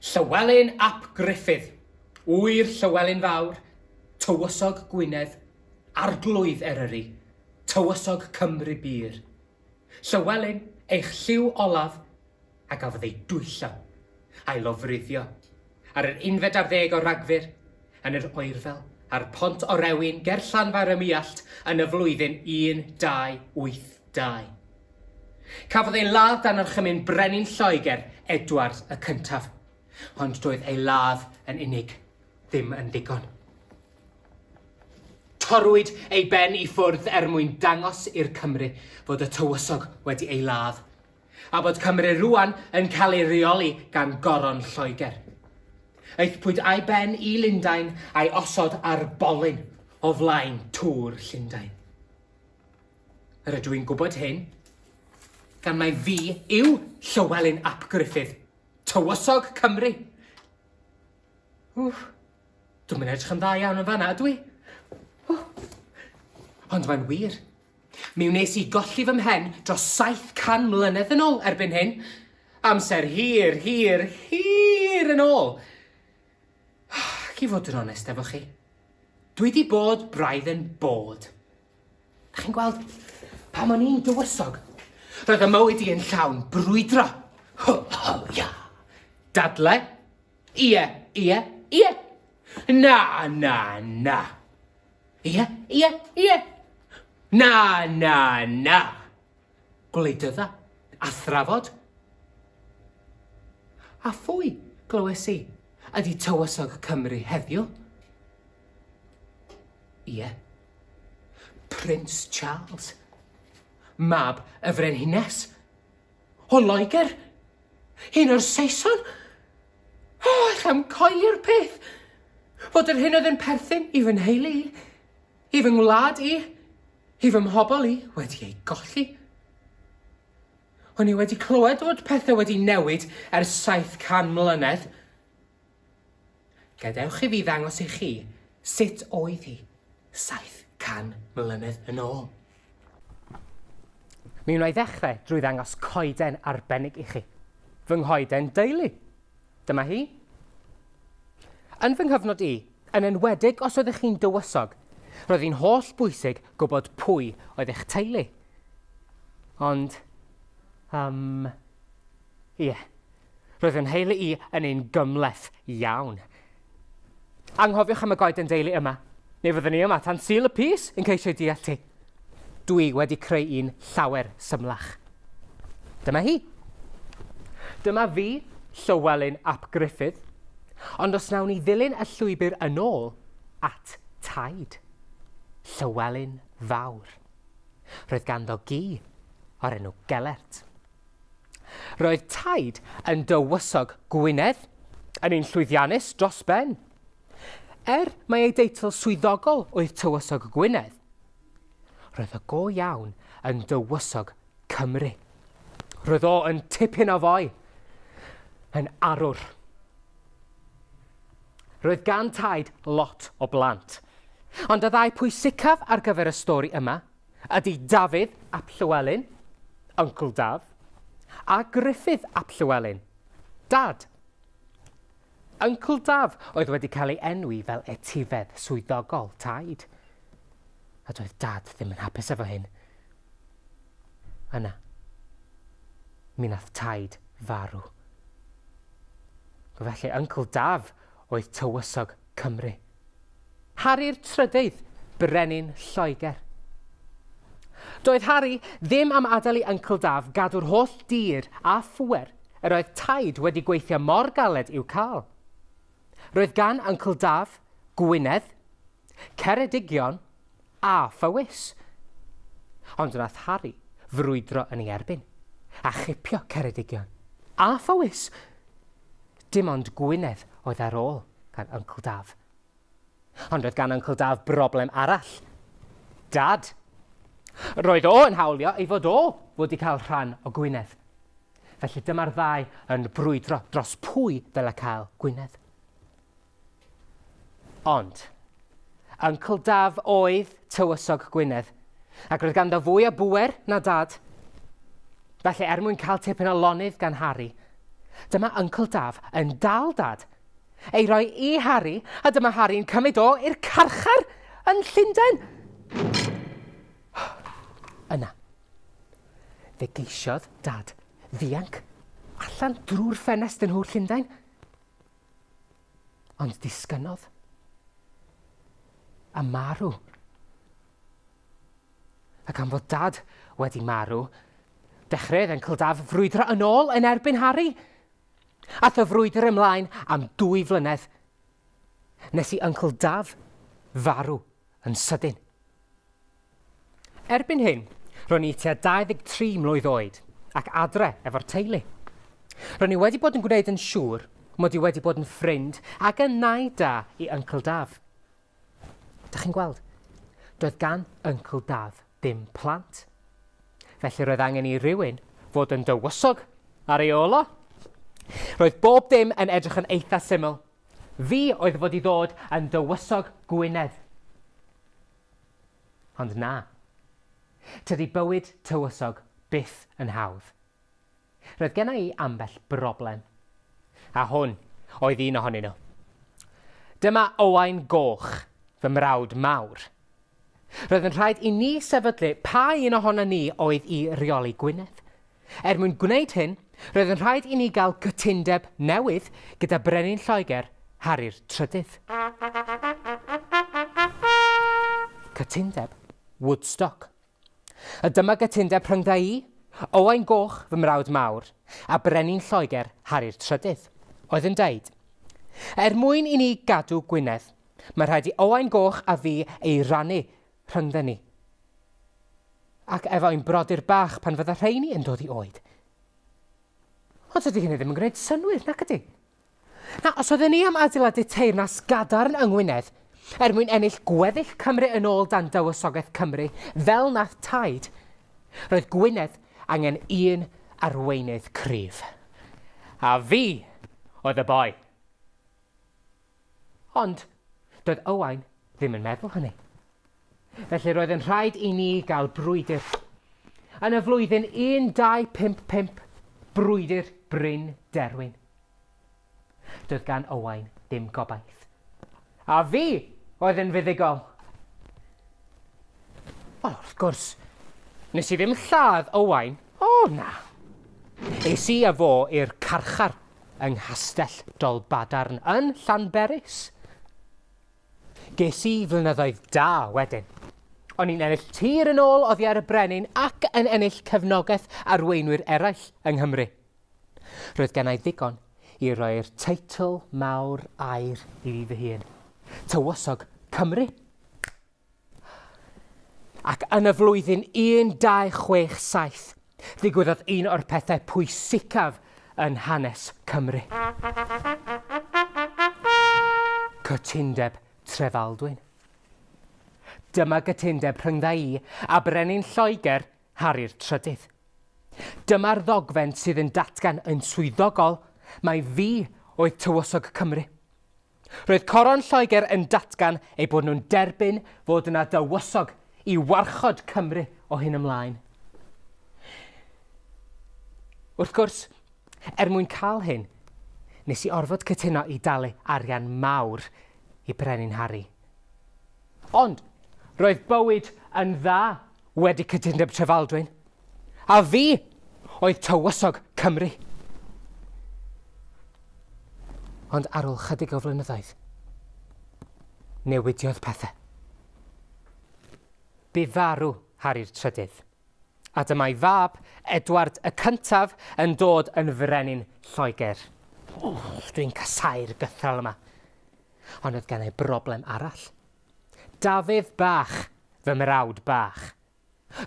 Llywelyn ap Gruffydd, ŵyr Llywelyn Fawr, Tywysog Gwynedd, Arglwydd Eryri, Tywysog Cymru bur. Llywelyn, eich lliw olaf, a gafodd ei dwyllo. a'i lofruddio ar yr unfed ar ddeg o Ragfyr yn yr oerfel ar Pont Orewin ger Llanfair-ym-Muallt yn y flwyddyn 1282. Cafodd ei ladd dan orchymyn brenin Lloegr, Edward y Cyntaf, ond doedd ei ladd yn unig ddim yn ddigon. Torrwyd ei ben i ffwrdd er mwyn dangos i'r Cymry fod y tywysog wedi ei ladd, a bod Cymru rŵan yn cael ei reoli gan Goron Lloegr. Aethpwyd a'i ben i Lundain a'i osod ar bolyn o flaen tŵr Llundain. Rydw i'n gwybod hyn, gan mae fi yw Llywelyn ap Gruffydd, tywysog Cymru. Wff, dwi'n mynd edrych yn dda iawn yn fanna, dwi. Wff. Ond mae'n wir, Mi wnes i golli fy mhen dros 700 mlynedd yn ôl erbyn hyn. Amser hir, hir, hir yn ôl. Ac i fod yn onest efo chi, dwi di bod braidd yn bod. Da chi'n gweld, pam o'n i'n dywysog, roedd y mywyd i yn llawn brwydro. Ho, ho, ia. Dadle? Ie, ie, ie. Na, na, na. Ie, ie, ie. Na, na, na. Gwleidydda, a thrafod. A phwy, glywes i, ydy tywysog Cymru heddiw? Ie. Prince Charles. Mab y frenhines. O Loegr. Un o'r Saeson. O, allai'm coeli'r peth! Fod yr hyn oedd yn perthyn i fy nheulu i, i fy ngwlad i, i fy mhobl i, wedi ei golli. O'n i wedi clywed fod pethau wedi newid ers 700 mlynedd. Gadewch i fi ddangos i chi sut oedd hi 700 mlynedd yn ôl. Mi wna i ddechrau drwy ddangos coeden arbennig i chi. Fy nghoeden deulu. Dyma hi. Yn fy nghyfnod i, yn enwedig os oeddech chi'n dywysog, roedd hi'n holl bwysig gwybod pwy oedd eich teulu. Ond, um, ie. Yeah. Roedd fy nheulu i yn un gymhleth iawn. Anghofiwch am y goeden deulu yma. Ni fyddwn ni yma tan Sul y Pys yn ceisio deall ti. Dwi wedi creu un llawer symlach. Dyma hi. Dyma fi, Llywelyn ap Gruffydd. Ond os nawn ni ddilyn y llwybr yn ôl at Taid. Llywelyn Fawr. Roedd ganddo gi o'r enw Gelert. Roedd taid yn dywysog Gwynedd yn un llwyddiannus dros ben. Er mai ei deitl swyddogol oedd Tywysog Gwynedd, roedd o go iawn yn dywysog Cymru. Roedd o yn tipyn o foi, yn arwr. Roedd gan taid lot o blant. Ond y ddau pwysicaf ar gyfer y stori yma Ydy Dafydd ap Llywelyn, Uncle Daf, a Gruffydd ap Llywelyn, Dad. Uncle Daf oedd wedi cael ei enwi fel etifedd swyddogol taid. A doedd Dad ddim yn hapus efo hyn. Yna, mi nath taid farw. Felly, Uncle Daf oedd tywysog Cymru. Harri'r trydydd brenin Lloegr. Doedd Harri ddim am adael i Uncle Daf gadw'r holl dir a phŵer yr oedd Taid wedi gweithio mor galed i'w cael. Roedd gan Uncle Daf Gwynedd, Ceredigion a Phowys. Ond wnaeth Harri frwydro yn ei erbyn a chipio Ceredigion a Phowys. Dim ond Gwynedd oedd ar ôl gan Uncle Daf. Ond roedd gan Uncle Daf broblem arall. Dad. Roedd o yn hawlio ei fod o fod i cael rhan o Gwynedd. Felly dyma'r ddau yn brwydro dros pwy ddyle cael Gwynedd. Ond, Uncle Daf oedd tywysog Gwynedd, ac roedd ganddo fwy o bŵer na Dad. Felly, er mwyn cael tipyn o lonydd gan Harri, dyma Uncle Daf yn dal Dad, ei roi i Harri, a dyma Harri'n cymryd o i'r carchar yn Llundain. Yna, fe geisiodd Dad ddianc allan drwy'r ffenest yn nhŵr Llundain. Ond disgynnodd. A marw. Ac am fod dad wedi marw, dechreuodd Encl Daf frwydro yn ôl yn erbyn Harri. Ath y frwydr ymlaen am dwy flynedd, nes i Yncl Daf farw yn sydyn. Erbyn hyn, ro'n i tua 23 mlwydd oed ac adre efo'r teulu. Ro'n i wedi bod yn gwneud yn siŵr mod i wedi bod yn ffrind ag yn nai da i Yncl Daf. Da chi'n gweld, doedd gan Yncl Daf ddim plant. Felly roedd angen i rywun fod yn dywysog ar ei ôl o. Roedd bob dim yn edrych yn eitha syml. Fi oedd fod i ddod yn dywysog Gwynedd. Ond na. Tydi bywyd tywysog byth yn hawdd. Roedd genna i ambell broblem. A hwn oedd un ohonyn nhw. Dyma Owain Goch, fy mrawd mawr. Roedd yn rhaid i ni sefydlu pa un ohonon ni oedd i reoli Gwynedd. Er mwyn gwneud hyn, roedd yn rhaid i ni gael cytundeb newydd gyda Brenin Lloegr, Harri'r Trydydd. Cytundeb Woodstock. A dyma gytundeb rhyngdda i, Owain Goch, fy mrawd mawr, a Brenin Lloegr, Harri'r Trydydd, oedd yn deud, Er mwyn i ni gadw Gwynedd, mae rhaid i Owain Goch a fi ei rannu rhyngdden ni. Ac efo ein brodyr bach pan fydda rheini yn dod i oed. Ond dydy hynny ddim yn gwneud synwyr, nac ydy? Na, os oedden ni am adeiladu teyrnas gadarn yng Ngwynedd, er mwyn ennill gweddill Cymru yn ôl dan dywysogaeth Cymru, fel nath taid, roedd Gwynedd angen un arweinydd cryf. A fi oedd y boi. Ond, doedd Owain ddim yn meddwl hynny. Felly roedd yn rhaid i ni gael brwydr. Yn y flwyddyn 1255, brwydr Bryn Derwin. Doedd gan Owain ddim gobaith. A fi oedd yn fuddugol. Wel, wrth gwrs, nes i ddim lladd Owain. O, na. Es i a fo i'r carchar yng Nghastell Dolbadarn yn Llanberis. Ges i flynyddoedd da wedyn. O'n i'n ennill tir yn ôl oddi ar y brenin ac yn ennill cefnogaeth arweinwyr eraill yng Nghymru. Roedd gennau ddigon i roi'r teitl mawr air i fi fy hun. Tywysog Cymru! Ac yn y flwyddyn 1267, ddigwyddodd un o'r pethau pwysicaf yn hanes Cymru. Cytundeb Trefaldwyn. Dyma gytundeb rhyngdda i a brenin Lloegr, Harri'r Trydydd. Dyma'r ddogfen sydd yn datgan yn swyddogol mai fi oedd tywysog Cymru. Roedd Coron Lloegr yn datgan eu bod nhw'n derbyn fod yna dywysog i warchod Cymru o hyn ymlaen. Wrth gwrs, er mwyn cael hyn, nes i orfod cytuno i dalu arian mawr i Brenin Harry. Ond roedd bywyd yn dda wedi Cytundeb Trefaldwyn, a fi oedd tywysog Cymru. Ond ar ôl chydig o flynyddoedd, newidiodd pethau. Bu farw Harri'r Trydydd. A dyma'i fab, Edward y Cyntaf, yn dod yn frenin Lloegr. Wff, dwi'n casau'r gythral yma. Ond oedd gen i broblem arall. Dafydd Bach, fy mrawd bach.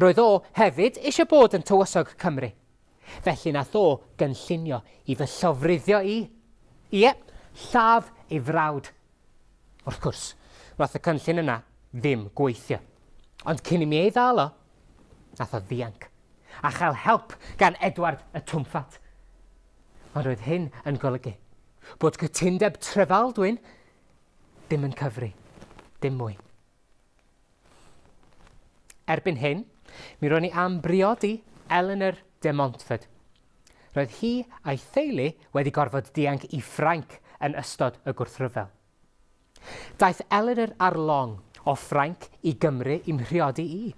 Roedd o hefyd eisiau bod yn tywysog Cymru. Felly nath o gynllunio i fy llofruddio i. Ie, lladd ei frawd Wrth gwrs, wnaeth y cynllun yna ddim gweithio. Ond cyn i mi ei ddal o, nath o ddianc, a chael help gan Edward y Twmffat. Ond roedd hyn yn golygu bod cytundeb Trefaldwyn ddim yn cyfri, dim mwy. Erbyn hyn, mi ro'n i am briodi Eleanor de Montford. Roedd hi a'i theulu wedi gorfod dianc i Ffrainc yn ystod y gwrthryfel. Daeth Eleanor ar long o Ffrainc i Gymru i'm mhriodi i.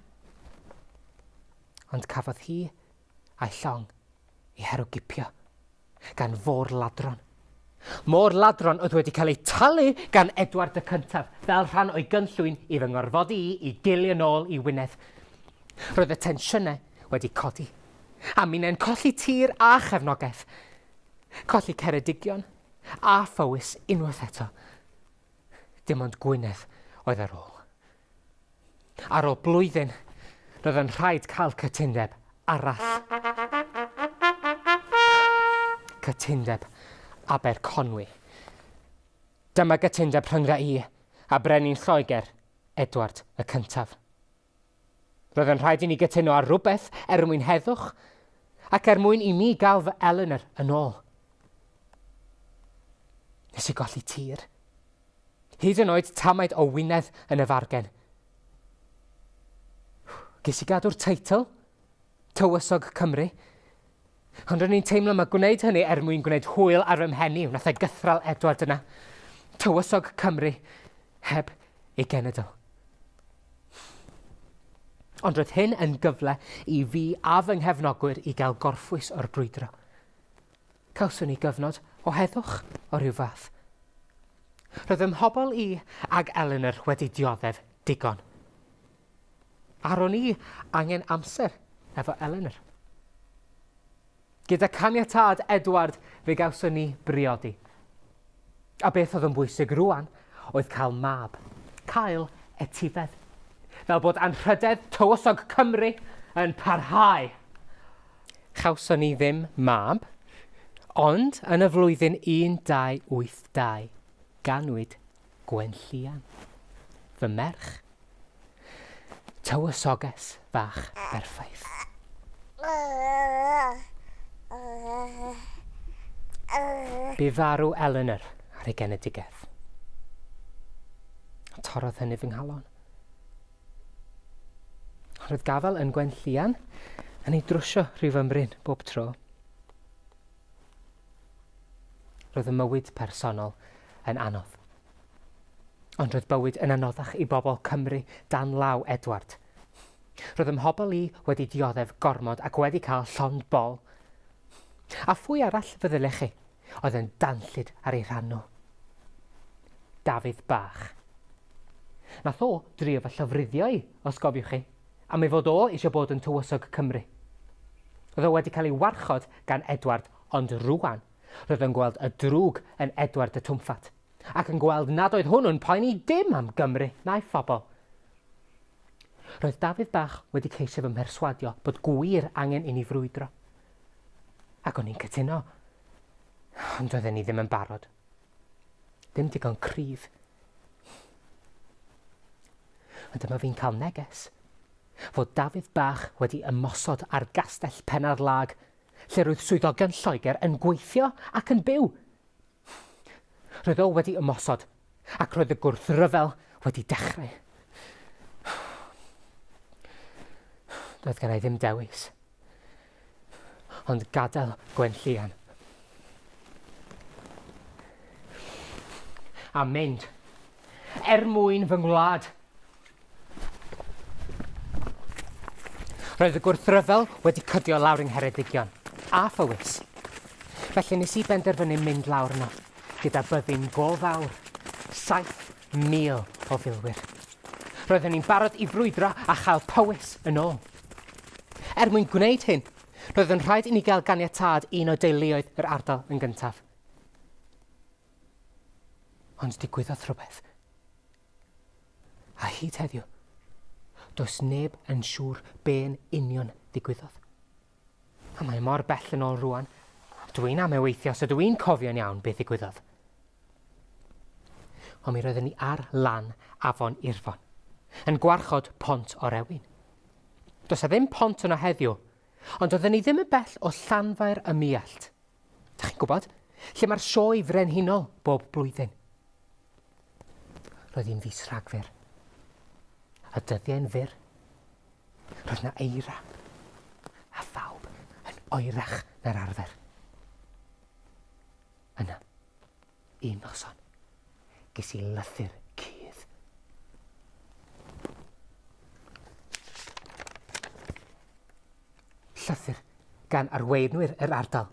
Ond cafodd hi A'i llong i herwgipio gan fôr ladron. Môr ladron oedd wedi cael ei talu gan Edward y Cyntaf fel rhan o'i gynllwyn i fy ngorfodi i i gelu yn ôl i Wynedd. Roedd y tensiynau wedi codi, a minnau'n colli tir a chefnogaeth, colli Ceredigion a Phowys unwaith eto. Dim ond Gwynedd oedd ar ôl. Ar ôl blwyddyn, roedd yn rhaid cael cytundeb arall. Cytundeb Aberconwy. Dyma gytundeb rhyngdda i a brenin Lloegr, Edward y Cyntaf. Roedd yn rhaid i ni gytuno ar rhywbeth er mwyn heddwch ac er mwyn i mi gael fy Eleanor yn ôl. Nes i golli tir. Hyd yn oed tamaid o wynedd yn y fargen. Ges i gadw'r teitl, Tywysog Cymru, ond ro'n i'n teimlo mae gwneud hynny er mwyn gwneud hwyl ar fy mheni, wnaeth ei gythral Edward yna. Tywysog Cymru, heb ei genedl. Ond roedd hyn yn gyfle i fi a fy nghefnogwyr i gael gorffwys o'r brwydro. Cawson ni gyfnod o heddwch o ryw fath. Roedd fy mhobl i ac Eleanor wedi dioddef digon. A ro'n i angen amser efo Eleanor. Gyda caniatâd Edward fe gawson ni briodi. A beth oedd yn bwysig rŵan oedd cael mab, cael etifedd. Fel bod anrhydedd tywysog Cymru yn parhau. Chawson ni ddim mab, ond yn y flwyddyn 1282, ganwyd Gwenllian, fy merch. Tywysoges fach berffaith. Bu farw Eleanor ar ei genedigaeth. Torrodd hynny fy nghalon. Roedd gafael yn Gwenllian yn ei drwsio rhyw fymryn bob tro. Roedd y mywyd personol yn anodd. Ond roedd bywyd yn anoddach i bobl Cymru dan law Edward. Roedd ym mhobl i wedi dioddef gormod ac wedi cael llond bol. A phwy arall feddylech chi? oedd yn danllyd ar ei rhan o. Dafydd bach. Nath o drio fy llofruddio i, os gofiwch chi, am ei fod o eisiau bod yn Tywysog Cymru. Roedd o wedi cael ei warchod gan Edward ond rŵan roedd o'n gweld y drwg yn Edward y Twmffat ac yn gweld nad oedd hwnnw'n poeni dim am Gymru na'i phobl. Roedd Dafydd bach wedi ceisio fy mherswadio bod gwir angen i ni frwydro. Ac o'n i'n cytuno, ond doedden ni ddim yn barod. Ddim digon cryf. Ond dyma fi'n cael neges fod Dafydd Bach wedi ymosod ar gastell Penarlag, lle roedd swyddogion Lloegr yn gweithio ac yn byw. Rhyfel wedi ymosod ac roedd y gwrthryfel wedi dechrau. Doedd gen i ddim dewis, ond gadael Gwenllian a mynd. er mwyn fy ngwlad. Roedd y gwrthryfel wedi cydio lawr yng Ngheredigion, a Phowys. Felly nes i benderfynu mynd lawr yno, gyda byddin go fawr, 7,000 o filwyr. Roeddwn i'n barod i frwydro a chael Powys yn ôl. Er mwyn gwneud hyn, roedd yn rhaid i ni gael ganiatâd un o deuluoedd yr ardal yn gyntaf. Ond digwyddodd rhywbeth. A hyd heddiw, does neb yn siŵr be'n union ddigwyddodd. A mae mor bell yn ôl rwan, dw i'n ame weithio os ydw i'n cofio'n iawn beth ddigwyddodd. Ond mi roedden ni ar lan afon Irfon, yn gwarchod pont orewin. Does a ddim pont yno heddiw, Ond oedden ni ddim yn bell o Llanfair ym Muallt, dach chi'n gwybod, lle mae'r Sioe Frenhinol bob blwyddyn. Roedd hi'n fis Rhagfyr. A dyddiau'n fyr. Roedd na eira. A phawb yn oerach na'r arfer. Yna, Un noson, ges i lythyr cudd. Llythyr gan arweinwyr yr ardal.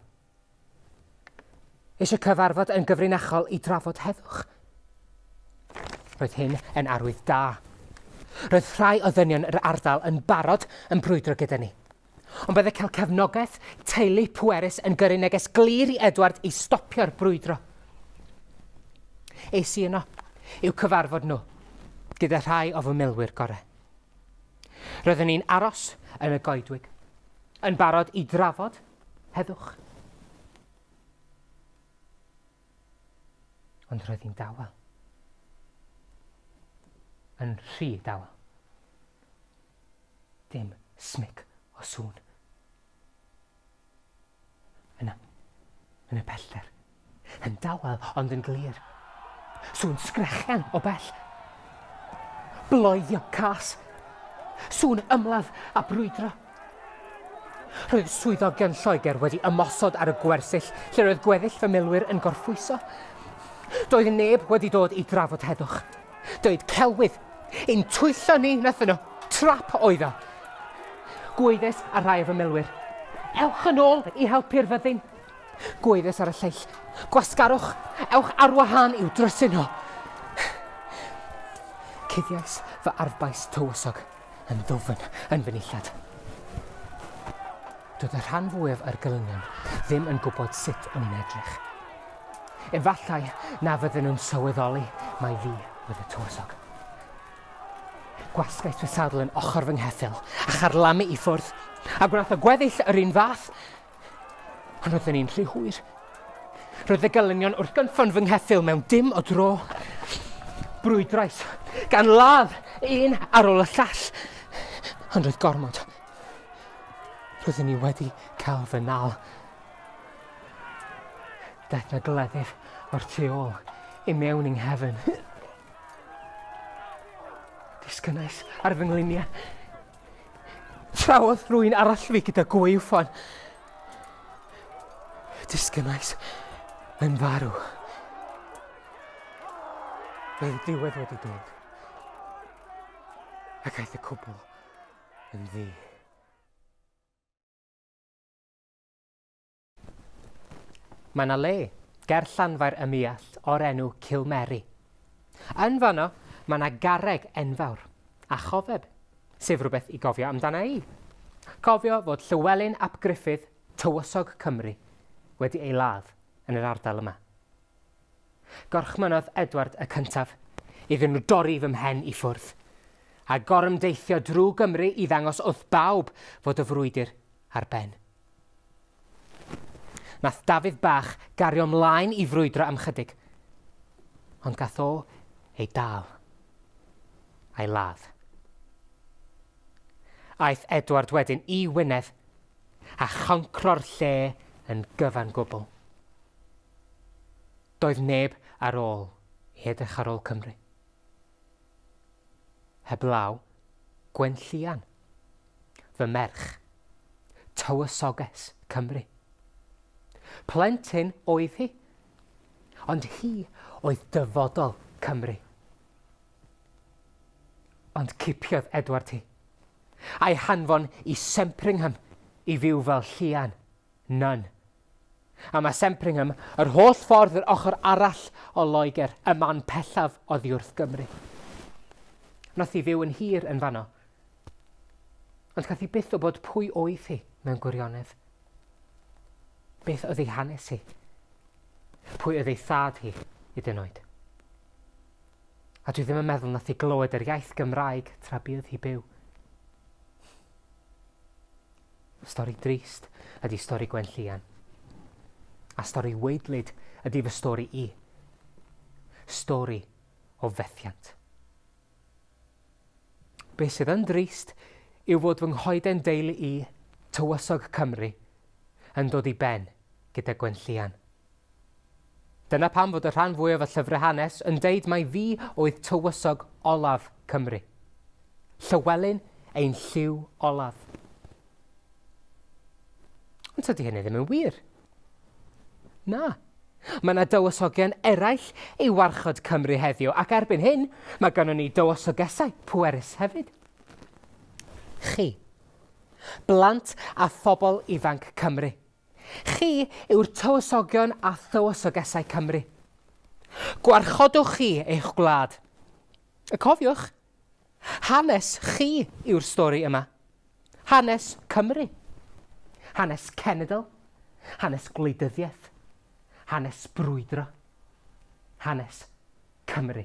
Eisiau cyfarfod yn gyfrinachol i drafod heddwch. Roedd hyn yn arwydd da. Roedd rhai o ddynion yr ardal yn barod yn brwydro gyda ni. Ond bydde cael cefnogaeth teulu pwerus yn gyrru neges glir i Edward i stopio'r brwydro. Es i yno i'w cyfarfod nhw gyda rhai o fy milwyr gorau. Roeddwn i'n aros yn y goedwig, yn barod i drafod heddwch. Ond roedd hi'n dawel. Yn rhy dawel. Ddim smic o sŵn. Yna, yn y pellter, yn dawel ond yn glir, sŵn sgrechian o bell. Bloeddio cas. Sŵn ymladd a brwydro. Roedd swyddog yn Lloegr wedi ymosod ar y gwersyll lle roedd gweddill fy milwyr yn gorffwyso. Doedd neb wedi dod i drafod heddwch. Doedd celwydd yn twyllo ni nathon nhw. Trap oedd o. Gwaeddes ar rhai o fy milwyr, Ewch yn ôl i helpu'r fyddin. Gwaeddes ar y lleill, Gwasgarwch, ewch ar wahân i'w drysu nhw. Cuddiais fy arfbais tywysog yn ddwfn yn fy nillad. Doedd y rhan fwyaf o'r gelynion ddim yn gwybod sut o'n i'n edrych. Efallai na fydden nhw'n sylweddoli mai fi oedd y tywysog. Gwasgais fy sadl yn ochr fy ngheffyl a charlamu i ffwrdd, a gwnaeth y gweddill yr un fath. Ond roedden ni'n rhy hwyr. Roedd y gelynion wrth gynffon fy ngheffyl mewn dim o dro. Brwydrais, gan ladd un ar ôl y llall. Ond roedd gormod. Roedden ni wedi cael fy nal. Daeth na gleddyf o'r tu ôl i mewn yng nghefn. Disgynnais ar fy ngliniau. Trawodd rwy'n arall fi gyda gwaywffon. Disgynnais yn farw. Roedd y diwedd wedi dod. Ac aeth y cwbl yn ddi. Mae yna le ger Llanfair ym Muallt o'r enw Cilmeri. Yn fanno, mae yna garreg enfawr a chofeb, sef rhywbeth i gofio amdana i. Cofio fod Llywelyn ap Gruffydd, tywysog Cymru, wedi ei ladd yn yr ardal yma. Gorchmynnodd Edward y Cyntaf iddyn nhw dorri fy mhen i ffwrdd, a gorymdeithio drwy Gymru i ddangos wrth bawb fod y frwydr ar ben. Nath Dafydd bach gario mlaen i frwydro am chydig, ond gath o ei dal a'i ladd. Aeth Edward wedyn i Wynedd a choncro'r lle yn gyfan gwbl. Doedd neb ar ôl i edrych ar ôl Cymru. Heblaw Gwenllian, fy merch, tywysoges Cymru. Plentyn oedd hi, ond hi oedd dyfodol Cymru. Ond cipiodd Edward hi, a'i hanfon i Sempringham i fyw fel llian, nun, A mae Sempringham yr holl ffordd yr ochr arall o Loegr, y man pellaf oddiwrth Gymru. Nath hi fyw yn hir yn fanno. Ond gath hi byth wybod pwy oedd hi mewn gwirionedd. Beth oedd ei hanes hi? Pwy oedd ei thad hi, i dyn oed? A dwi ddim yn meddwl nath hi glywed yr iaith Gymraeg tra bydd hi byw. Stori drist ydi stori Gwenllian. A stori weidlyd ydi fy stori i. Stori o fethiant. Be sydd yn drist yw fod fy nghoeden deulu i, tywysog Cymru, yn dod i ben gyda Gwenllian. Dyna pam fod y rhan fwyaf o llyfrau hanes yn deud mai fi oedd tywysog olaf Cymru. Llywelyn ein lliw olaf. Ond tydi hynny ddim yn wir. Na. Mae yna dywysogion eraill i warchod Cymru heddiw, ac erbyn hyn, mae gynnon ni dywysogesau pwerus hefyd. Chi. Blant a phobl ifanc Cymru. Chi yw'r tywysogion a thywysogesau Cymru. Gwarchodwch chi eich gwlad. A cofiwch, hanes chi yw'r stori yma. Hanes Cymru. Hanes cenedl. Hanes gwleidyddiaeth. Hanes brwydro. Hanes Cymru.